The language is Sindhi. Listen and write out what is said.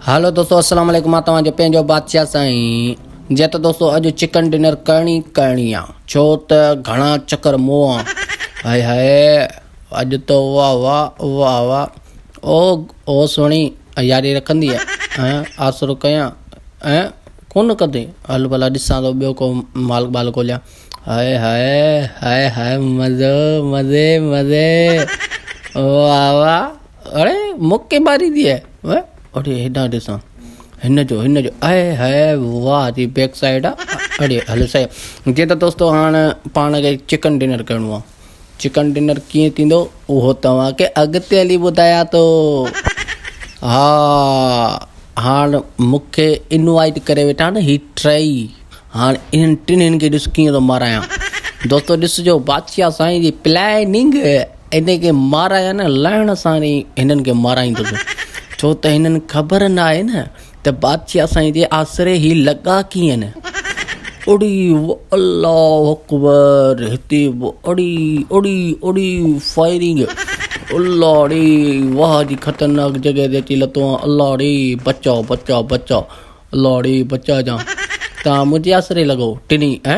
هيلو دوستو السلام عليڪم مان توهان جو پنهنجو بادشاهه سائين جي ته دوستو اڄ چڪن ڊنر ڪرڻي ڪرڻي آ ڇو ته گهڻا چڪر مون آ هائي هائي اڄ ته واه واه واه واه او او سهڻي ياري رکندي ها آسرو ڪيان ۽ ڪون ڪندي هل ڀلا ڏسان ٿو ٻيو ڪو مال بال ڳوليان هائي هائي هائي هائي مزو مزي مزي واه واه اڙي مون ڪي ماري دي هي و اڙي هيڏانهن ڏسان هن جو هن جو اي هي واه جي بيڪ سائيڊ اڙي هل سائي جي ته دوستو هاڻ پاڻ کي چڪن ڊنر ڪرڻو آ چڪن ڊنر ڪيئن ٿيندو اهو توهان کي اڳتي هلي ٻڌايان ٿو ها هاڻ مون کي انوائٽ ڪري ويٺا آهن هي ٽئي هاڻ انهن ٽنهن کي ڏس ڪيئن ٿو مارايان دوستو ڏسجو بادشاهه سائين جي پلاننگ انهن کي مارايا نه لائڻ سان ئي هنن کي مارائيندس ڇو ته هنن خبر نه آهي نه ته بادشاهه سائين جي آسري هي لڳا ڪيئن اڙي الله اڪبر هتي به اڙي اڙي اڙي فائرنگ الله ڙي واهه جي خطرناڪ جڳهه تي اچي لتو آهي الله ڙي بچاء بچاء بچاء الله ڙي بچاء جان تان منهنجي آسري لڳو ٽني ها